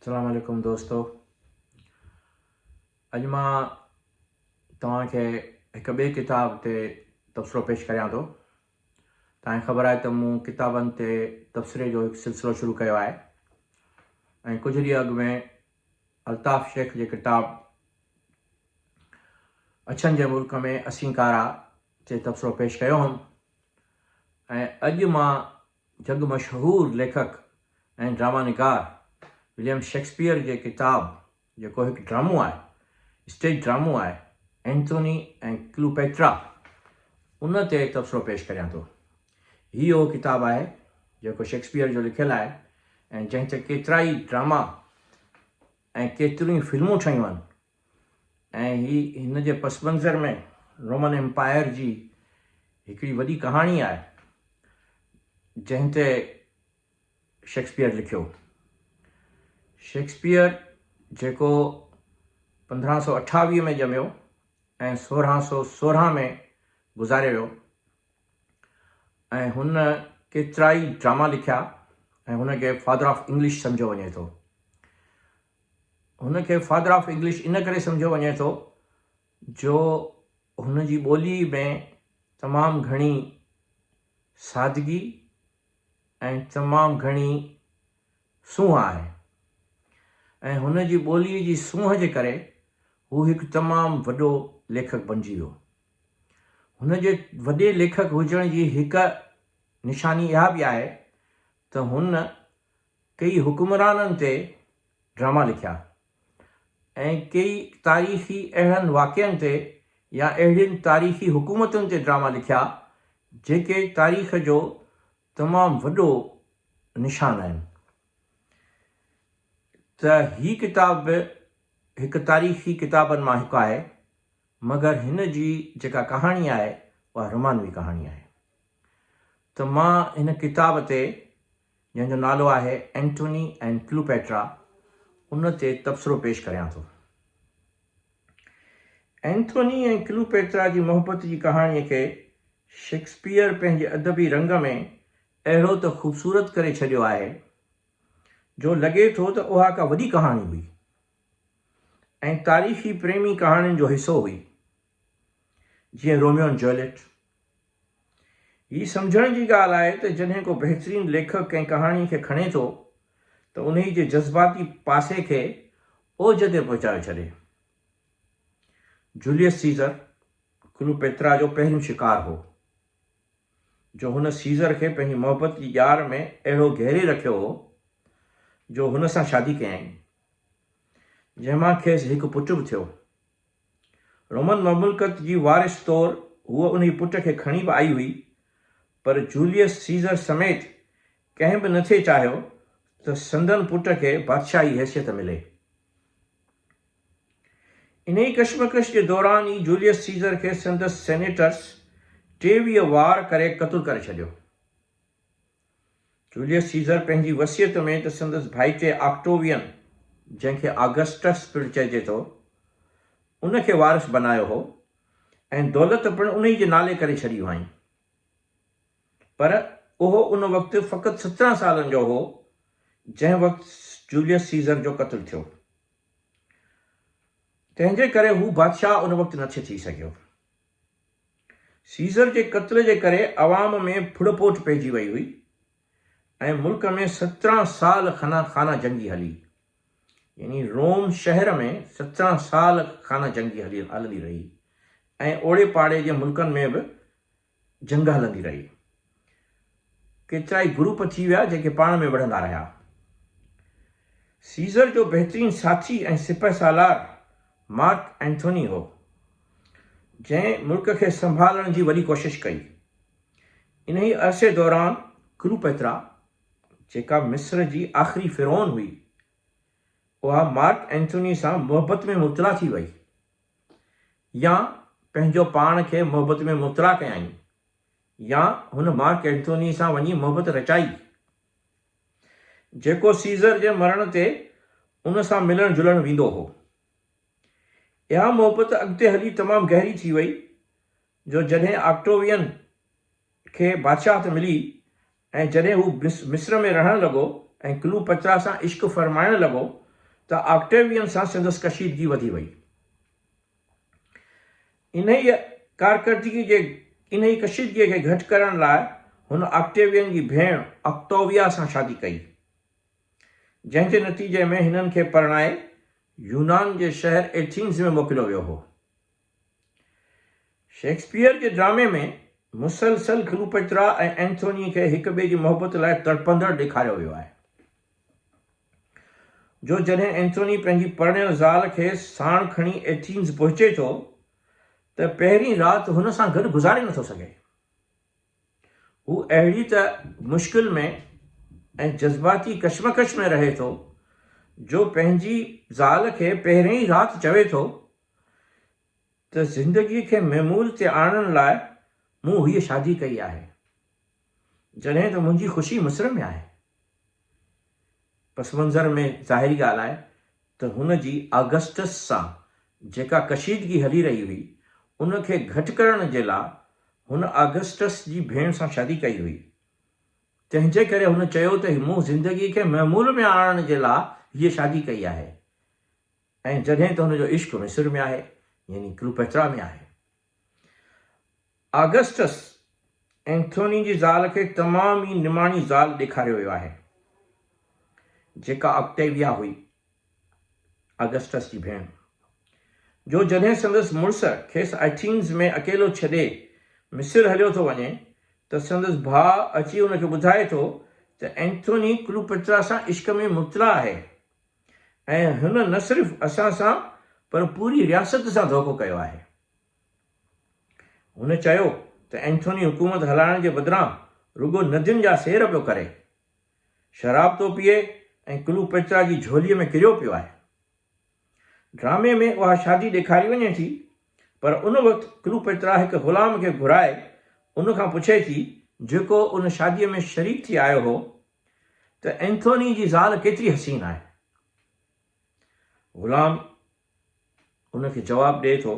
اسلام عليڪم دوستو اڄ مان توهان کي هڪ ٻئي ڪتاب تي تبصرو پيش ڪريان ٿو توهان خبر آهي ته مون ڪتابن تي تبصري جو هڪ سلسلو شروع ڪيو آهي ۽ ڪجهه ڏينهن اڳ ۾ الطاف شيخ جي ڪتاب اڇن جي ملڪ ۾ اسين ڪارا تي تبصرو پيش ڪيو هوم ۽ اڄ مان جڳ مشهور ليکڪ ۽ ڊراما نگار وليم شيڪسپيئر جي ڪتاب جيڪو هڪ ڊرامو آهي، اسٽيج ڊرامو آهي، اينٿوني ۽ ڪليوپيٽرا ان تي تبصرو پيش ڪريان ٿو. هي اهو ڪتاب آهي جيڪو شيڪسپيئر جو لکيل آهي ۽ جنهن تي ڪيترائي ڊراما ۽ ڪيتريون ئي فلمون ٺهيون آهن. ۽ هي هن جي پس منظر ۾ رومن ايمپائر جي هڪڙي وڏي ڪهاڻي آهي، جنهن تي شيڪسپيئر لکيو. شيڪسپيئر جيڪو پندرهن سؤ اٺاويهه ۾ ڄميو ۽ سورهن سؤ سورهن ۾ گذاري ويو ۽ هن ڪيترائي ڊراما لکيا ۽ هن کي فادر آف انگلش سمجهيو وڃي ٿو. هن کي فادر آف انگلش ان ڪري سمجهيو وڃي ٿو جو هن جي ٻوليء ۾ تمام گهڻي سادگي ۽ تمام گهڻي سونهن آهي ۽ هن جي ٻوليء جي سونهن جي ڪري هو هڪ تمام وڏو ليکڪ بنجي ويو. هن جي وڏي ليکڪ هجڻ جي هڪ نشاني اها به آهي ته هن ڪيئي حڪمرانن تي ڊراما لکيا ۽ ڪيئي تاريخي اهڙن واقعن تي يا اهڙين تاريخي حڪومتن تي ڊراما لکيا جيڪي تاريخ جو تمام وڏو نشان آهن ته هي ڪتاب به هڪ تاريخي ڪتابن مان هڪ آهي مگر هن جي جيڪا ڪهاڻي آهي اها رومانوي ڪهاڻي آهي ته مان هن ڪتاب تي جنهن جو نالو آهي اينٽوني اينڊ ڪليوپيٽرا، ان تي تبصرو پيش ڪريان ٿو. اينٿوني ۽ ڪليوپيٽرا جي محبت جي ڪهاڻيء کي شيڪسپيئر پنهنجي ادبي رنگ ۾ اهڙو ته خوبصورت ڪري ڇڏيو آهي، جو لڳي ٿو ته اها ڪا وڏي ڪهاڻي هئي ۽ تاريخي پريمي ڪهاڻين جو حصو هئي. جيئن روميو ۽ جوليٽ. هي سمجهڻ جي ڳالهه آهي ته جڏهن ڪو بهترين ليکڪ ڪنهن ڪهاڻي کي کڻي ٿو ته انهي جي جذباتي پاسي کي اوج تي پهچايو ڇڏي. جوليس سيزر ڪلوپيترا جو پهريون شڪار هو، جو هن سيزر کي پنهنجي محبت جي ڄار ۾ اهڙو گهيري رکيو هو جو هن سان شادي ڪيائين، جنهن مان کيس هڪ پٽ به ٿيو. رومن مملڪت جي وارث طور هوء انهي پٽ کي کڻي به آئي هئي، پر جوليس سيزر سميت ڪنهن به نه ٿي چاهيو ته سندن پٽ کي بادشاهي حيثيت ملي. انهي ڪشمڪش جي دوران ئي جوليس سيزر کي سندس سينيٽرس ٽيويهه وار ڪري قتل ڪري ڇڏيو. جوليس سيزر پنهنجي وصيت ۾ ته سندس ڀائيٽي آڪٽووين، جنهن کي آگسٽس پڻ چئجي ٿو، ان کي وارث بنايو هو ۽ دولت پڻ انهي جي نالي ڪري ڇڏي هئائين. پر اهو ان وقت فقط سترهن سالن جو هو، جنهن وقت جوليس سيزر جو قتل ٿيو. تنهن جي ڪري هو بادشاهه ان وقت نٿي ٿي سگهيو. سيزر جي قتل جي ڪري عوام ۾ ڦڙ ڦوٽ پئجي وئي هئي ۽ ملڪ ۾ سترهن سال خنا خانه جنگي هلي يعني روم شهر ۾ سترهن سال خانه جنگي هلندي رهي ۽ اوڙي پاڙي جي ملڪن ۾ به جنگ هلندي رهي. ڪيترائي گروپ ٿي ويا جيڪي پاڻ ۾ وڙهندا رهيا. سيزر جو بهترين ساٿي ۽ سپهه سالار مارڪ اينٿوني هو، جنهن ملڪ کي سنڀالڻ جي وڏي ڪوشش ڪئي. انهي عرصي دوران ڪلوپئترا جيڪا مصر جي آخري فرعون هئي، اها مارڪ اينٿوني سان محبت ۾ مبتلا ٿي وئي يا پنهنجو پاڻ کي محبت ۾ مبتلا ڪيائين. يا هن مارڪ اينٿوني سان وڃي محبت رچائي، جيڪو سيزر جي مرڻ تي ان سان ملڻ جلڻ ويندو هو. اها محبت اڳتي هلي تمام گهري ٿي وئي، جو جڏهن آڪٽووين کي بادشاهت ملي ۽ جڏهن هو مصر ۾ رهڻ لڳو ۽ ڪليو پترا سان عشق فرمائڻ لڳو ته آڪٽووين سان سندس ڪشيدگي وڌي وئي. انهيء ڪارڪردگيء جي انهيء ڪشيدگيء کي گهٽ ڪرڻ لاء هن آڪٽيوين جي ڀيڻ آڪٽاويا سان شادي ڪئي، جنهن جي نتيجي ۾ هنن کي پرڻائي يونان جي شهر ايٿينز ۾ موڪليو ويو هو. شيڪسپيئر جي ڊرامي ۾ مسلسل ڪلوپيٽرا ۽ اينٿونيء کي هڪ ٻئي جي محبت لاء تڙپندڙ ڏيکاريو ويو آهي. جو جڏهن اينٿوني پنهنجي پرڻيل زال کي ساڻ کڻي ايٿينز پهچي ٿو ته پهرين رات هن سان گڏ گذاري نٿو سگهي. هو اهڙي ته مشڪل ۾ ۽ جذباتي ڪشمڪش ۾ رهي ٿو جو پنهنجي زال کي پهرين ئي رات چوي ٿو ته زندگي کي معمول تي آڻڻ لاء مون هيء شادي ڪئي آهي. جڏهن ته منهنجي خوشي مصر ۾ آهي. پس منظر ۾ ظاهري ڳالهه آهي ته هن جي آگسٽس سان جيڪا ڪشيدگي هلي رهي هئي، ان کي گهٽ ڪرڻ جي لا هن آگسٽس جي ڀيڻ سان شادي ڪئي هئي. تنهن جي ڪري هن چيو ته مون زندگي کي معمول ۾ آڻڻ جي لا هيء شادي ڪئي آهي ۽ جڏهن ته هن جو عشق مصر ۾ آهي يعني ڪليوپيٽرا ۾ آهي. آگسٽس اينٿوني جي زال کي تمام ئي نماڻي زال ڏيکاريو ويو آهي، جيڪا آڪٽيويا هئي، آگسٽس جي ڀيڻ، جو جڏهن سندس مڙس کيس ايٿينز ۾ اڪيلو ڇڏي مصر هليو ٿو وڃي ته سندس ڀاء اچي هن کي ٻڌائي ٿو ته اينٿوني ڪلوپئٽرا سان عشق ۾ مبتلا آهي ۽ هن نه صرف اسان سان پر پوري رياست سان ڌوڪو ڪيو آهي. هن چيو ته اينٿوني حڪومت هلائڻ جي بدران رڳو ندين جا سير پيو ڪري، شراب ٿو پيئي ۽ ڪلوپيٽرا جي جهولي ۾ ڪريو پيو آهي. ڊرامي ۾ اها شادي ڏيکاري وڃي ٿي پر ان وقت ڪلوپيٽرا هڪ غلام کي گهرائي ان کان پڇي ٿي جيڪو ان شادي ۾ شريڪ ٿي آيو هو، ته اينٿوني جي زال ڪيتري حسين آهي. غلام هن کي جواب ڏئي ٿو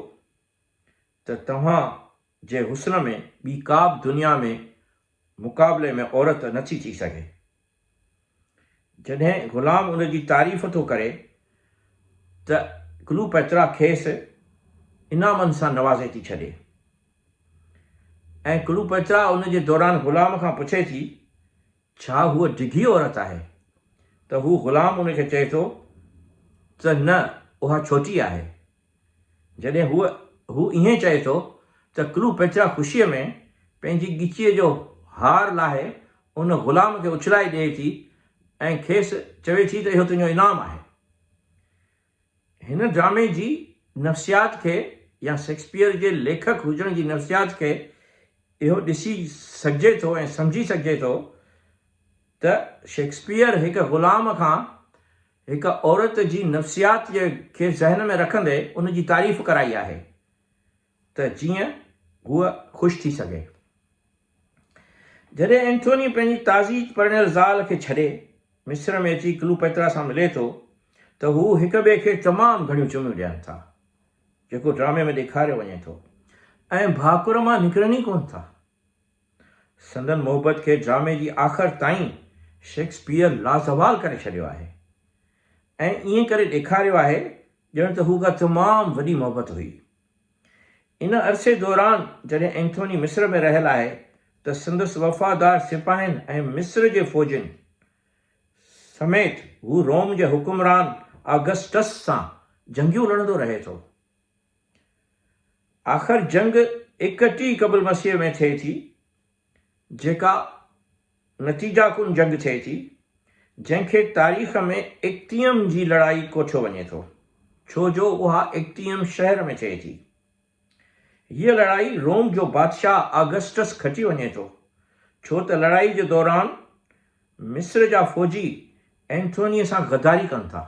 ته توهان جي حسن ۾ ٻي ڪابه دنيا ۾ مقابلي ۾ عورت نه ٿي ٿي سگهي. جڏهن غلام ان جي تعريف ٿو ڪري ته ڪلوپئترا کيس انعامن سان نوازي ٿي ڇڏي. ۽ ڪلوپئترا ان جي دوران غلام کان پڇي ٿي، ڇا هوء ڊگهي عورت آهي؟ ته هو غلام ان کي چئي ٿو ته نه اها ڇوٽي آهي. جڏهن هوء هو ائين چئي ٿو ته ڪلوپئترا خوشيء ۾ پنهنجي ڳچيء جو هار لاهي ان غلام کي اڇلائي ڏئي ٿي ۽ کيس چوي ٿي ته اهو تنهنجو انعام آهي. هن ڊرامي جي نفسيات کي يا شيڪسپيئر جي ليکڪ هجڻ جي نفسيات کي اهو ڏسي سگهجي ٿو ۽ سمجهي سگهجي ٿو ته شيڪسپيئر هڪ غلام کان هڪ عورت جي نفسيات کي ذهن ۾ رکندي ان جي تعريف ڪرائي آهي. ته جيئن هوء خوش ٿي سگهي. جڏهن اينٿوني پنهنجي تازي پرڻيل زال کي ڇڏي مصر ۾ اچي ڪلوپئترا سان ملي ٿو ته هو هڪ ٻئي کي تمام گهڻيون چميون ڏين ٿا جيڪو ڊرامي ۾ ڏيکاريو وڃي ٿو ۽ ڀاڪر مان نڪرن ئي ڪونه ٿا. سندن محبت کي ڊرامي جي آخر تائين شيڪسپيئر لازوال ڪري ڇڏيو آهي ۽ ائين ڪري ڏيکاريو آهي ڄڻ ته هو ڪا تمام وڏي محبت هئي. ان عرصي دوران جڏهن اينٿوني مصر ۾ رهيل آهي ته سندس وفادار سپاهين ۽ مصر جي فوجين سميت هو روم جي حڪمران آگسٽس سان جنگيون لڙندو رهي ٿو. آخر جنگ ايڪ ٽي قبل مسيح ۾ ٿئي ٿي جيڪا نتيجا ڪن جنگ ٿئي ٿي، جنهن کي تاريخ ۾ اڪتيم جي لڙائي ڪوٺيو وڃي ٿو، ڇو جو اها اڪتيم شهر ۾ ٿئي ٿي. هيء لڙائي روم جو بادشاهه آگسٽس کٽي وڃي ٿو، ڇو ته لڙائي جي دوران مصر جا فوجي اينٿونيء سان غداري ڪن ٿا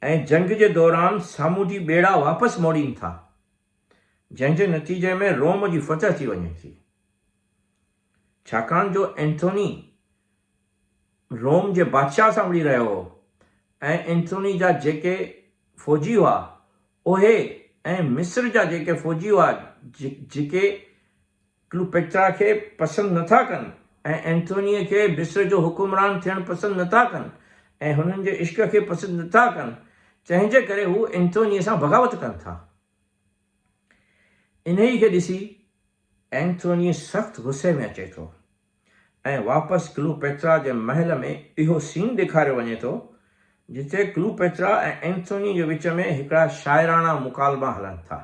۽ جنگ جي دوران سامونڊي ٻيڙا واپس موڙين ٿا. جنهن جي نتيجي ۾ روم جي فتح ٿي وڃي ٿي، ڇاڪاڻ جو اينٿوني روم جي بادشاهه سان وڙهي رهيو هو ۽ اينٿوني جا جيڪي فوجي هئا اهي ۽ مصر جا جيڪي فوجي هئا جيڪي ڪليوپيٽرا کي پسند نه ٿا ڪن ۽ اينٿونيء کي مصر جو حڪمران ٿيڻ پسند نه ٿا ڪن ۽ هنن جي عشق کي پسند نه ٿا ڪن، تنهن جي ڪري هو اينٿونيء سان بغاوت ڪن ٿا. انهيء کي ڏسي اينٿوني سخت غصي ۾ اچي ٿو ۽ واپس ڪليوپيٽرا جي محل ۾ اهو سين ڏيکاريو وڃي ٿو، جتي ڪليوپيٽرا ۽ اينٿوني جي وچ ۾ هڪڙا شاعراڻا مڪالما هلن ٿا.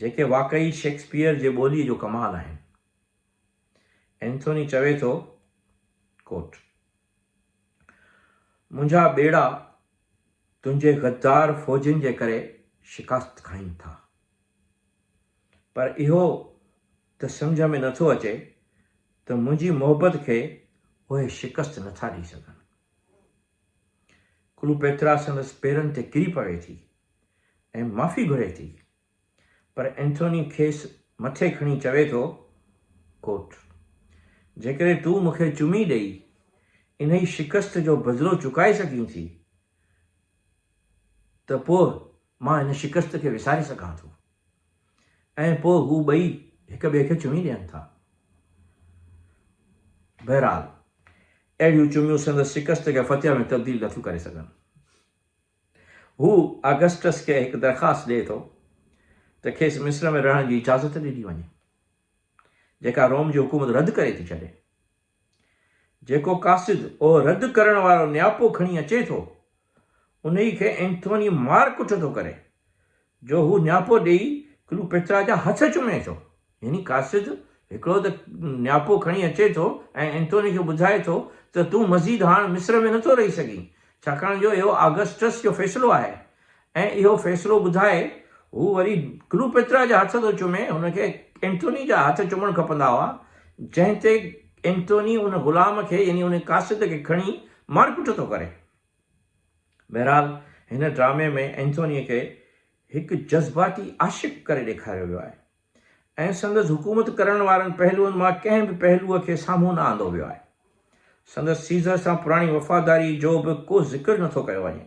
جيڪي واقعي شيڪسپيئر جي ٻوليء جو ڪمال آهن. اينٿوني چوي ٿو، Quote، منهنجا ٻيڙا تنهنجي غدار فوجين جي ڪري شڪاست کائين ٿا. پر اهو ته سمجهه ۾ نٿو اچي ته منهنجي محبت کي اهي شڪست نٿا ڏئي سگهن. ڪلوپيترا سندس پيرن تي ڪري پوي ٿي ۽ معافي گهري ٿي، پر اينٿوني کيس مٿي کڻي چوي ٿو، Quote، جيڪڏهن تون مون کي چمي ڏئي انهي شڪست جو بدلو چڪائي سگهين ٿي ته پوء مان هن شڪست کي وساري سگهان ٿو. ۽ پوء هو ٻئي هڪ ٻئي کي چمي ڏين ٿا. بهرحال، اهڙيون چميون سندس شڪست کي فتح ۾ تبديل نٿيون ڪري سگهن. هو آگسٽس کي هڪ درخواست ڏئي ٿو ته کيس مصر ۾ رهڻ جي اجازت ڏني وڃي، جيڪا روم جي حڪومت رد ڪري ٿي ڇڏي. جيڪو قاصد او رد ڪرڻ وارو نياپو کڻي اچي ٿو، انهيء کي اينٿوني مار ڪٽ ٿو ڪري، جو هو نياپو ڏيئي ڪلوپيترا جا هٿ چمي ٿو. يعني قاصد هڪڙو ته نياپو کڻي اچي ٿو ۽ اينٿوني کي ٻڌائي ٿو ته تون مزيد هاڻ مصر ۾ نٿو رهي سگهين، ڇاڪاڻ جو اهو آگسٽس جو فيصلو آهي ۽ اهو فيصلو ٻڌائي هو وري ڪلوپيترا جا هٿ ٿو چمي، هن کي اينٿوني جا هٿ چمڻ کپندا هئا، جنهن تي اينٿوني ان غلام کي يعني ان قاصد کي کڻي مارڪٽ ٿو ڪري. بهرحال هن ڊرامي ۾ اينٿوني کي هڪ جذباتي عاشق ڪري ڏيکاريو ويو آهي ۽ سندس حڪومت ڪرڻ وارن پهلوئن مان ڪنهن به پهلوء کي سامهون نه آندو ويو آهي. سندس سيزر سان پراڻي وفاداري جو به ڪو ذڪر نٿو ڪيو وڃي.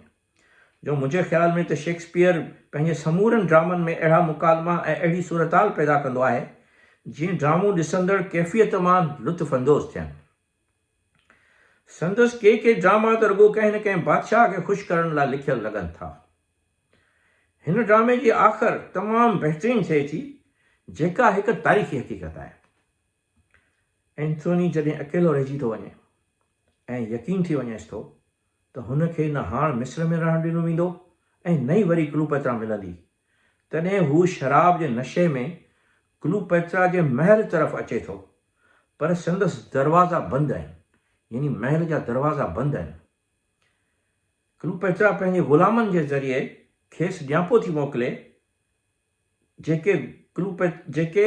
جو منهنجي خيال ۾ ته شيڪسپيئر پنهنجي سمورن ڊرامن ۾ اهڙا مڪالما ۽ اهڙي صورتحال پيدا ڪندو آهي، جيئن ڊرامو ڏسندڙ ڪيفيت مان لطف اندوز ٿين. سندس ڪي ڪي ڊراما ته رڳو ڪنهن نه ڪنهن بادشاهه کي خوش ڪرڻ لاء لکيل لڳن ٿا. هن ڊرامي جي آخر تمام بهترين ٿئي ٿي، جيڪا هڪ تاريخي حقيقت آهي. اينٿوني جڏهن اڪيلو رهجي ٿو وڃي ۽ يقين ٿي وڃيس ٿو ته هن کي نه هاڻ مصر ۾ رهڻ ڏنو ويندو ۽ نه ئي وري ڪلوپئترا ملندي، تڏهن هو شراب جي نشي ۾ ڪلوپئترا جي محل طرف اچي ٿو، پر سندس دروازا بند آهن، يعني محل جا دروازا بند آهن. ڪلوپئترا پنهنجي غلامن جي ذريعي کيس ڄاپو ٿي موڪلي جيڪي ڪليوپيٽ جيڪي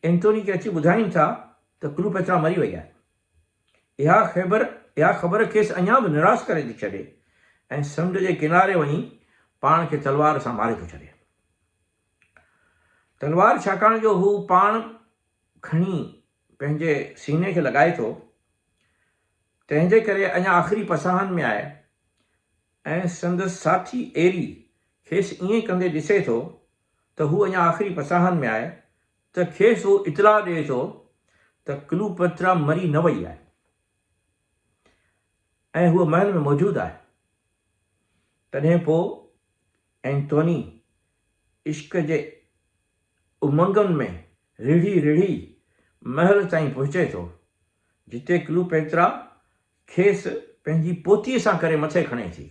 اينٿوني کي اچي ٻڌائين ٿا ته ڪليوپيٽرا مري وئي آهي. اها خيبر اها خبر کيس اڃا به نراس ڪري ٿي ڇڏي ۽ سمنڊ جي ڪناري وڃي پاڻ کي تلوار سان ماري ٿو ڇڏي. تلوار ڇاڪاڻ جو هو پاڻ کڻي پنهنجي سيني کي لڳائي ٿو تنهن جي ڪري اڃا آخري پساهن ۾ آهي ۽ سندس ساٿي ايري کيس ائين ڪندي ڏسي ٿو ته هو اڃا آخري پساهن ۾ آهي ته کيس هو اطلاع ڏئي ٿو ته ڪلوپئترا مري نه وئي آهي ۽ هوء محل ۾ موجود آهي. تڏهن پوء ائنٿوني عشق جي امنگن ۾ رڙهي رڙهي محل تائين پهچي ٿو، جتي ڪلوپئترا کيس پنهنجي پوتيء سان ڪري مٿي کڻي ٿي.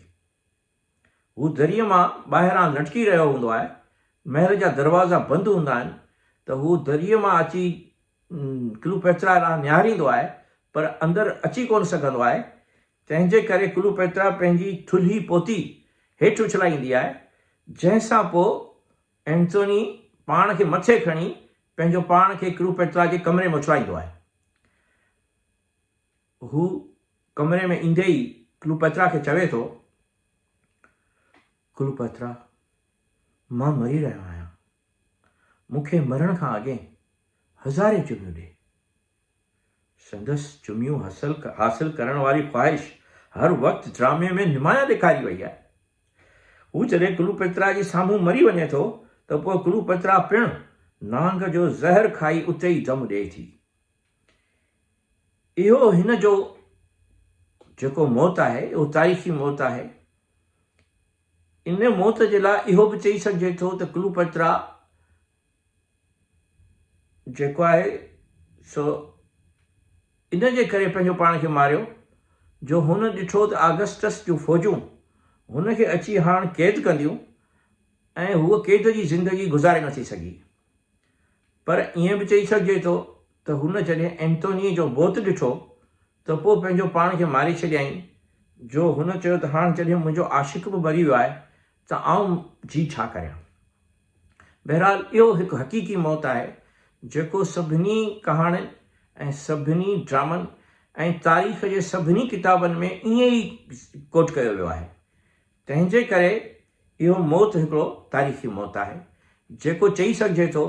هو دريء مان ٻاهران لٽڪي رهيو هوندو آهي. محل جا دروازا بند هوندا آهن ته هو دريء مان اچي ڪلوپيترا ڏانهن نهاريندو آهي پر اندر اچي ڪونه سگهندو آهي. تنهن جي ڪري ڪلوپيترا پنهنجي ٿلهي پوتي هيٺ اڇلائيندي آهي جنهن سان پوء اينٿوني پاڻ کي مٿي کڻي پنهنجو پاڻ کي ڪلوپيترا جي ڪمري ۾ اڇلائيندو آهي. هو ڪمري ۾ ايندي ئي ڪلوپئٿرا کي چوي ٿو، ڪلوپئٿرا، مان مري رهيو آهيان. مون کي مرڻ کان اڳين هزارين چميون ڏي. سندس چميون حاصل ڪرڻ واري خواهش هر وقت ڊرامي ۾ نمايان ڏيکاري وئي آهي. هو جڏهن ڪلوپئٿرا جي سامهون مري وڃي ٿو ته پوء ڪلوپئٿرا پڻ نانگ جو زهر کائي اتي ئي دم ڏئي ٿي. اهو هن جو جيڪو موت آهي اهو تاريخي موت آهي ان موت جي لاء اهو به چئي سگهجي ٿو ته ڪلوپترا جيڪو آهي سو ان جي ڪري پنهنجو پاڻ کي ماريو جو هن ڏٺو ته آگسٽس جون فوجون هن کي اچي هاڻ قيد ڪنديون ۽ هو قيد جي زندگي گذاري نٿي سگهي پر ائين به چئي سگهجي ٿو ته هن جڏهن اينٿونيء جو بوت ڏٺو ته پوء پنهنجو پاڻ کي ماري ڇڏيائين، جو هن چيو ته هاڻ جڏهن منهنجو عاشق به مري ويو آهي ته آئون جي ڇا ڪريان؟ بهرحال اهو هڪ حقيقي موت آهي، جيڪو سڀني ڪهاڻين ۽ سڀني ڊرامن ۽ تاريخ جي سڀني ڪتابن ۾ ائين ئي ڪوٽ ڪيو ويو آهي. تنهن جي ڪري اهو موت هڪڙو تاريخي موت آهي، جيڪو چئي سگهجي ٿو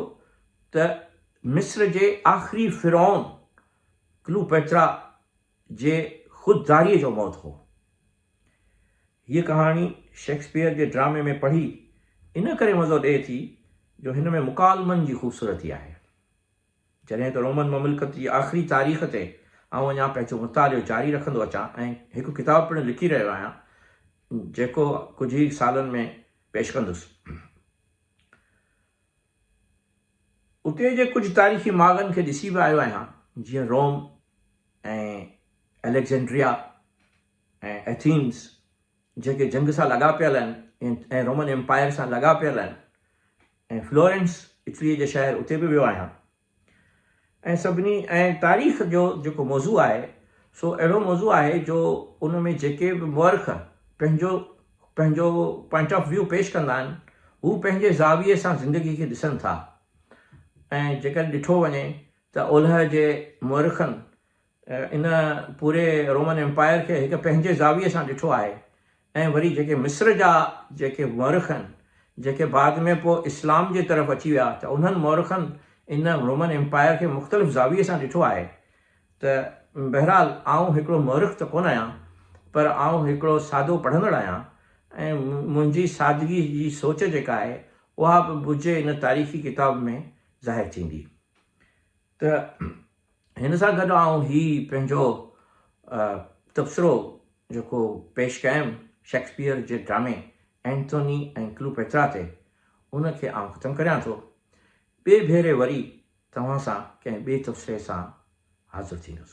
ته مصر جي آخري فرعون ڪلوپئترا جي خود داريء جو موت هو. هيء ڪهاڻي شيڪسپيئر جي ڊرامي ۾ پڙهي ان ڪري مزو ڏئي ٿي جو هن ۾ مڪالمن جي خوبصورتي آهي. جڏهن ته رومن مملڪت جي آخري تاريخ تي آئون اڃا پنهنجو مطالعو جاري رکندو اچان ۽ هڪ ڪتاب پڻ لکي رهيو آهيان، جيڪو ڪجهه ئي سالن ۾ پيش ڪندس. اتي جي ڪجهه تاريخي ماڳن کي ڏسي به آيو آهيان، جيئن روم ۽ اليگزينڊريا ۽ ايٿينز، جيڪي جنگ سان لاڳاپيل آهن ۽ رومن ايمپائر سان لاڳاپيل آهن. ۽ فلورينس اٽليء جي شهر اتي به ويو آهيان ۽ سڀني ۽ تاريخ جو جيڪو موضوع آهي سو اهڙو موضوع آهي جو ان ۾ جيڪي به مؤرخ پنهنجو پنهنجو پوائنٽ آف ويو پيش ڪندا آهن هو پنهنجي زاويي سان زندگي کي ڏسن ٿا ۽ جيڪڏهن ڏٺو وڃي ته اولهه جي مؤرخن ان پوري رومن ايمپائر کي هڪ پنهنجي زاويي سان ڏٺو آهي ۽ وري جيڪي مصر جا جيڪي مؤرخ آهن جيڪي بعد ۾ پوء اسلام جي طرف اچي ويا ته انهن مؤرخن ان رومن ايمپائر کي مختلف زاويي سان ڏٺو آهي ته بهرحال آئون هڪڙو مؤرخ ته ڪونه آهيان پر آئون هڪڙو سادو پڙهندڙ آهيان ۽ منهنجي سادگي جي سوچ جيڪا آهي اها به بجهي ان تاريخي ڪتاب ۾ ظاهر ٿيندي. ته هن سان گڏ آئون هي پنهنجو تبصرو جيڪو پيش ڪيم شيڪسپيئر جي ڊرامي ائنٿوني ۽ ڪلوپيٽرا تي ان کي آئون ختم ڪريان ٿو. ٻئي ڀيري وري توهان سان ڪنهن ٻئي تبصري سان حاضر ٿيندس.